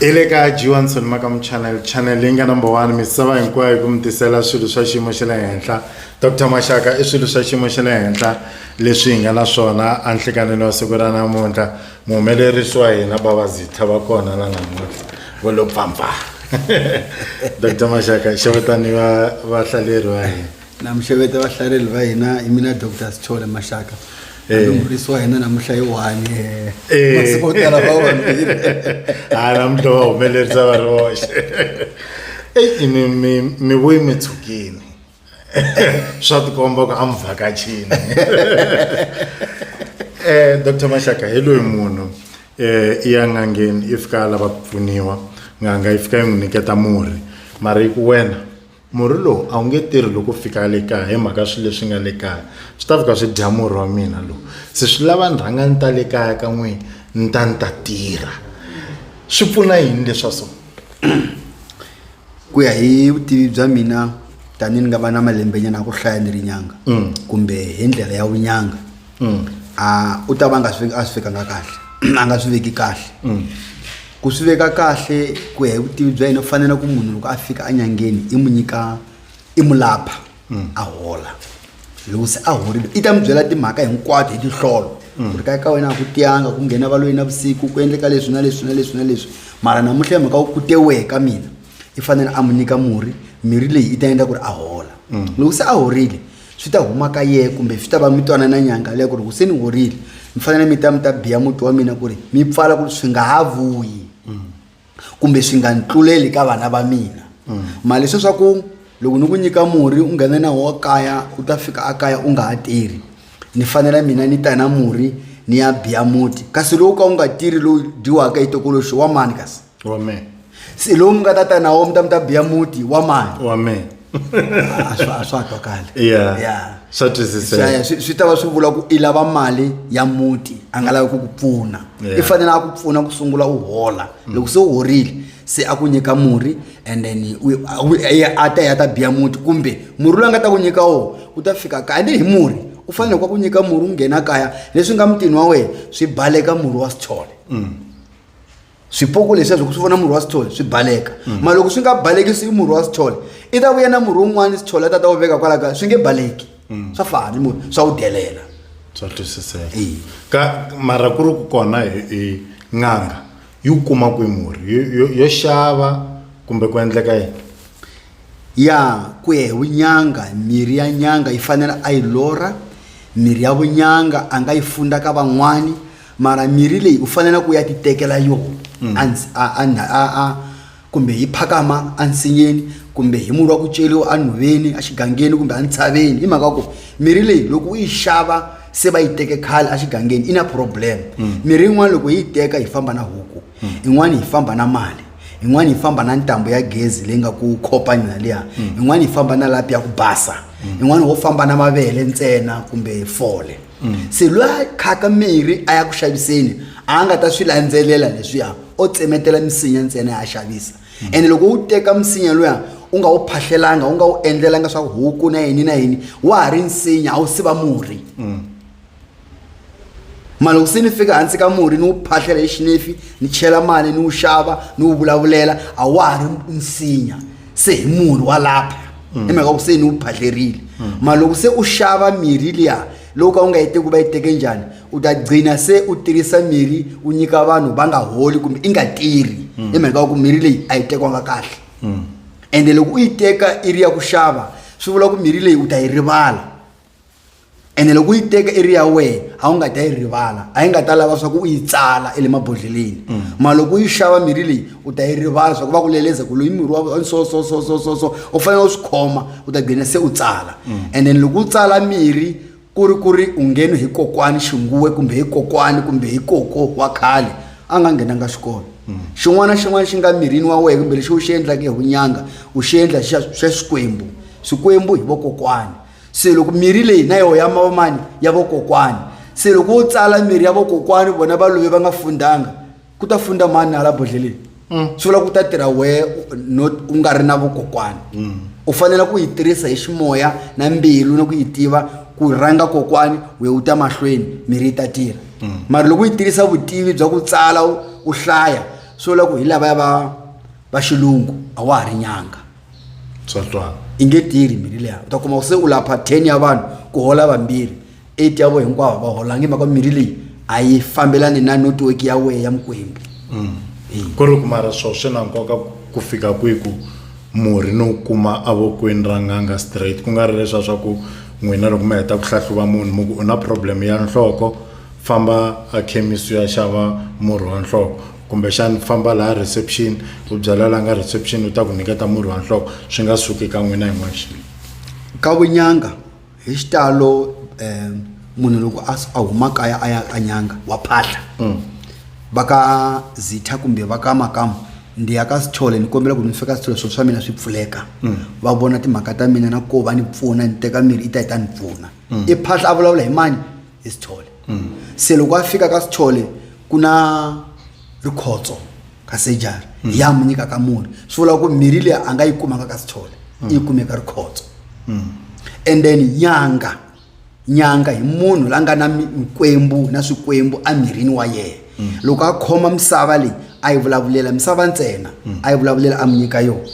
hi le ka johanson makamu channel channel leyi nga number one misava hinkwayo hi ku mi tisela swilo swa xiyimo xa le henhla dr maxaka i swilo swa xiyimo xa le henhla leswi hi nga na swona anhlikanini wa siku ra namuntlha muhumelerisi wa hina babazitha va kona la namuntlha va lo pampa dr maxaka xavutani va vahlaleri va hina namuxeveta vahlareli va hina hi mina dr sichole maxaka eh. murisi wa hina namuhla yi one eh. eh. masiku o tala va vambirhi ha ah, namuhla va humelerisa va ri voxe eyi mi mi mi vuyi mi tshukini swa tikomba ku a mi vhakachini um dr maxaka hi loyi munhu um i ya n'angeni i fika a lava ku pfuniwa n'anga yi fika yi n'wi nyiketa murhi mara yi ku wena Murhi lowu a wu nge tirhi loko u fika le kaya hi mhaka swilo leswi nga le kaya swi ta fika swi dya murhi wa mina lowu se swi lava ni rhanga ni ta le kaya ka n'wina ni ta ni ta tirha swi pfuna yini leswa so ku ya hi vutivi bya mina tanihi ni nga va na malembenyana ya ku hlaya ni ri nyanga kumbe hi ndlela ya vunyanga mm. ah, u ta va nga swi a swi vekanga kahle a nga swi veki kahle mm. ku swi veka kahle ku ya hi vutivi bya yena u fanele ku munhu loko a fika enyangeni i n'wi nyika i mu lapha mm. a hola loko se a horile i ta mi byela timhaka hinkwato hi tinhlolo mm. ku ri ka ka wena a ku tiyanga ku nghena valoyi na vusiku ku endleka leswi na leswi na leswi na leswi mara namuntlha hi mhaka wu ku tewehe ka mina i fanele a mu nyika murhi mirhi leyi i ta endla ku ri a hola mm. loko se a horile swi ta huma ka ye kumbe swi ta va mi twanana nyanga leya ku ri huseni horile mi fanele mi ta mi ta biya muti wa mina ku ri mi pfala ku ri swi nga ha vuyi kumbe swi nga ni tluleli ka vana va mina mali swe swa ku loko ni ku nyika murhi u nghene na wo kaya u ta fika a kaya u nga ha tirhi ni fanela mina ni ta na murhi ni ya biya muti kasi lowu ka wu nga tirhi lowu dyiwaka hi tokoloxi wa mani kasi amen se lowu mi nga ta ta na wo mi ta mi ta biya muti wa mani amen a swa a swa twakali Yeah. Yeah. Swa twisiseka. Swi- swi- swi ta va swi vula ku i lava mali ya muti a nga lavi ku ku pfuna Yeah. i fanele a ku pfuna ku sungula u hola loko se u horile se a ku nyika murhi and then u- a- u- i- a ta ya ta biya muti kumbe murhi loyi a nga ta ku nyika wo u ta fika kaya ni hi murhi u fanele kwa ku nyika murhi u nghena kaya leswi nga mutini wa wena swi baleka murhi wa sithole swipoko leswiya swi vona murhi wa sithole swi baleka mm. ma loko swi nga baleki swi murhi wa sithole i ta vuya na murhi wun'wana sithole a ta ta wu veka kwala kaya swi nge baleki mm. swa fani mu swa wu delela swa twisiseka ka mara ku ri ku kona hi n'anga yi wu kuma kwi murhi yo xava kumbe ku endleka yini ya ku ya hi vunyanga mirhi ya nyanga yi fanele a yi lora mirhi ya vunyanga a nga yi funda ka van'wani mara mirhi leyi u faneleke u ya ti tekela yona mm. a kumbe hi phakama ensinyeni kumbe hi murhi wa ku ceriwa enhoveni exigangeni kumbe entshaveni hi mhaka ku mirhi leyi loko u yi xava se va yi teke khale exigangeni i na problem mm. mirhi yin'wana loko yi yi teka hi famba na huku mm. yin'wana hi famba na mali yin'wana yi famba na ntambu ya gezi leyi nga ku khopani na liya yin'wana yi famba na lapi ya ku basa yin'wana wo famba na mavele ntsena kumbe fole se loyi a khaka mirhi a ya ku xaviseni a nga ta swi landzelela leswiya o tsemetela misinya ntsena a xavisa ene loko u teka misinya luya u nga wu phahlelanga u nga wu endlelanga swa huku na yini na yini wa ha ri nsinya a wu siva murhi mara loko se ni fika hansi ka murhi ni wu phahlela hi xinefi ni chela mali ni wu xava ni wu vulavulela a wa ha ri nsinya se hi murhi wa lapha hi mhaka ku se ni wu phadlerile mara loko se u xava mirhi liya loko ka u nga yi teki ku va yi teke njhani u ta gcina se u tirhisa mirhi u nyika vanhu va nga holi kumbe i nga tirhi hi mhaka ku mirhi leyi a yi tekiwanga kahle ende loko u yi teka i ri ya ku xava swi vula ku mirhi leyi u ta yi rivala ene loko u yi teka i ri ya wena a wu nga ta yi rivala a yi nga ta lava swa ku u yi tsala i le mabodhleleni mm. mara loko u yi xava mirhi leyi u ta yi rivala swa ku va ku leleza ku loyi mirhi wa so so so so so so u fanele u swi khoma u ta gcina se u tsala mm. and then loko u tsala mirhi ku ri ku ri u ngheni hi kokwani xinguwe kumbe hi kokwani kumbe hi koko wa khale a nga nghenanga xikolo mm. xin'wana na xin'wana xi nga mirini wa wena kumbe lexi u xi endlaka hi vunyanga u xi endla xa swikwembu swikwembu hi vokokwani se loko mirhi leyi na yoho ya mavamani ya vokokwani se loko wo tsala mirhi ya vokokwani vona va love va nga fundanga ku ta funda mani na hala bodlheleni mm. swi vula ku ta tirha wehe no u nga ri na vokokwani mm. u fanele ku yi tirhisa hi ximoya na mbilu na ku yi tiva ku rhanga kokwani we u ta mahlweni mirhi yi ta tirha mm. mara loko u yi tirhisa vutivi bya ku tsala u hlaya swi vula ku hi lavaya va va xilungu a wa ha ri nyanga tswatswana i nge tirhi mirhi leya u ta kuma se u lapha ten ya vanhu ku hola vambirhi eight ya vo hinkwavo va holangi mhaka mirhi leyi a yi fambelani na network ya wehe ya mikwembu mm. ku ri kumara swo swi na nkoka ku fika kwihi ku murhi no kuma avokweni ra n'anga straight ku nga ri leswa swa ku n'wina loko mi heta ku hlahluva munhu mu ku u na problem ya nhloko famba a khemisi ya xava murhi wa nhloko kumbexani famba laha reception u byala la nga reception u ta ku nyiketa murhi wa nhloko swi nga suki ka n'wina hi n'wexe ka vunyanga hi xitalo um munhu loko a s- a huma kaya a ya ka nyanga wa phahla va ka zitha kumbe va ka makamu ndi ya ka sithole ni kombela ku ni fika sithole swilo swa mina swi pfuleka va vona timhaka ta mina na ko va ni pfuna ni teka mirhi yi ta yi ta ni pfuna i phahla a vulavula hi mani hi sithole mm. se loko a fika ka sithole ku na rikhotso ka sejari mm. ya mu nyika ka murhi swi vula ku mirhi leyi a nga yi kumaka ka sithole mm. yi kumeka rikhotso and then nyanga nyanga hi munhu la nga na mikwembu na swikwembu emirini wa yena loko a khoma misava leyi a yi vulavulela misava ntsena a yi vulavulela a mi nyika yona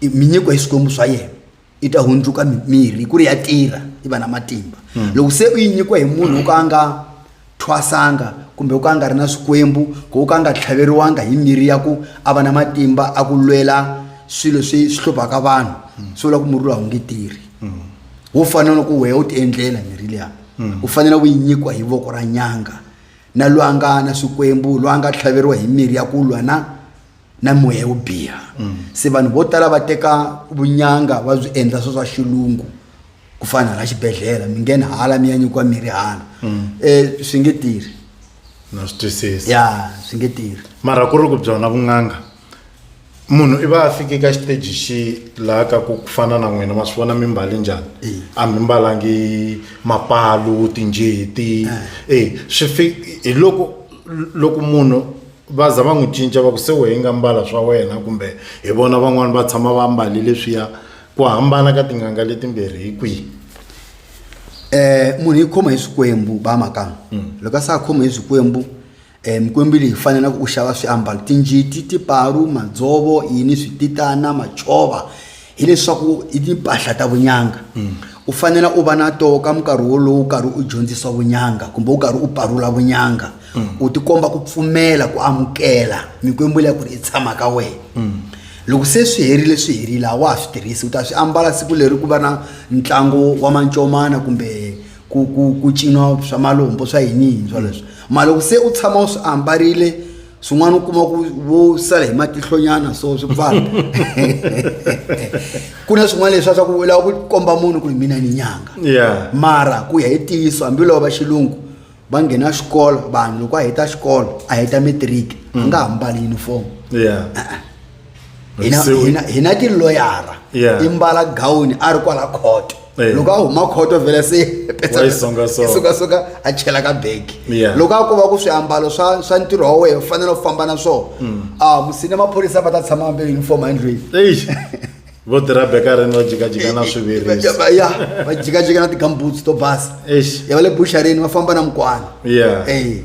minyiko hi swikwembu swa yena yi ta hundzuka mirhi ku ri ya tirha yi va na matimba hmm. loko se u yi nyikiwa hi munhu wo ka a nga thwasanga kumbe u ka a nga ri na swikwembu ku u ka a nga tlhaveriwanga hi mirhi ya ku a va na matimba a ku lwela swilo swi swi hluphaka vanhu hmm. swi vula ku murhi lowu a wu nge tirhi hmm. wo fana na ku wehe u tiendlela mirhi liya u fanele u yi nyikiwa hi voko ra nyanga na loyi a nga na swikwembu loyi a nga tlhaveriwa hi mirhi ya ku lwa na na moya yo biha se vanhu vo tala va teka vunyanga va byi endla swo swa xilungu ku fana hala xibedhlele mi ngheni hala mi ya nyikiwa mirhi hala um swi nge tirhi na swi twisisa ya swi nge tirhi mara ku ri ku byona vun'anga munhu i va a fike ka xiteji xi laha ka ku ku fana na n'wina ma swi vona mi mbale njhani Eh. a mi mbalangi mapalu tinjeti e swi fi hi loko loko munhu va za va n'wi cinca va ku se wehe nga mbala swa wena kumbe hi vona van'wani va tshama va mbali leswiya ku hambana ka tin'anga letimbirhi hi kwihi eh munhu yi khoma hi swikwembu ba makanga loko a sa khoma hi swikwembu eh mikwembu leyi fanelaka u xava swiambalo tinjiti tiparu madzovo yini swititana macova hileswaku i timpahla ta vunyanga mm. u fanela u va na toho ka minkarhi wolowo u karhi u dyondzisa vunyanga kumbe u karhi u parula vunyanga mm. u tikomba ku pfumela ku amukela mikwembu leya ku ri i tshama ka wena mm. loko se swi herile swi herile a wa ha swi tirhisi u ta swi ambala siku leri ku va na ntlangu wa mancomana kumbe ku ku ku cinwa swa malombo swa yiniyini swoleswo mara loko se u tshama u swi ambarile swin'wana u kuma ku vo sala hi matihlonyana so swi pfala ku na swin'wana leswi swa ku lava ku komba munhu ku hi mina ni nyanga mara ku ya hi ntiyiso hambiloko va xilungu va nghena xikolo vanhu loko a heta xikolo a heta matric a nga ha mbali uniform hina Se u- hina hina tiloyara Yeah. i mbala gawuni a ri kwala khoto Eh. loko a huma khoto vhele se Wa yi songasonga. songasonga a chela ka begi Yeah. loko a ku va ku swiambalo swa swa ntirho wa wena u fanele u famba na swona a musini maphorisa va ta tshama vambe uniform endlwini Eish. vo tirha bekarini va jikajika na swivirisi va ya va jikajika na ti-gumboots to basa Eish. ya va le busharini va famba na mukwana Yeah. Eh.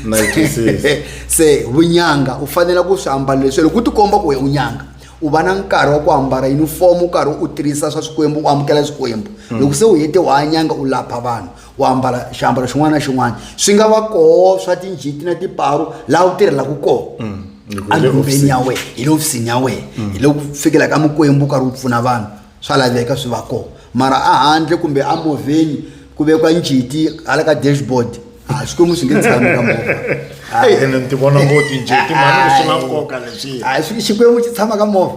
Na yi twisisa. se vunyanga u fanela ku swi ambala leswi loko u tikomba ku we u nyanga u va na nkarhi wa ku ambala yunifomo u karhi u tirhisa swa swikwembu u amukela swikwembu loko se u hete wa nyanga u lapha vanhu u ambala xiambalo xin'wana na xin'wana swi nga va koho swa tinjiti na tiparu laha u tirhelaka koho mm, andumbeni ya wena hi le ofisini ya wena mm. hi le ku fikela ka mikwembu u karhi u pfuna vanhu swa laveka swi va koho mara a handle kumbe a movheni ku vekwa njiti hala ka dashboard a swi komi swi nge tshami ka movha ene ni ti vona ngo tinjiti mani swi na nkoka leswiya xikwembu xi tshama ka movha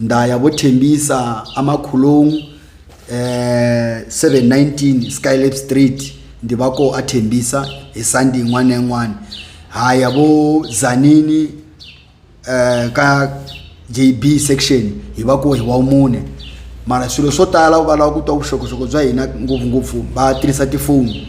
Ndaya bo Thembisa a Makholong eh 719 Skylab Street ndi va ko a Thembisa hi Sunday yin'wana na yin'wana ha ya vo Zanini eh ka JB section hi va ko hi wa mune mara swilo swo tala va lava ku twa vuxokoxoko bya hina ngopfungopfu va tirhisa tifoni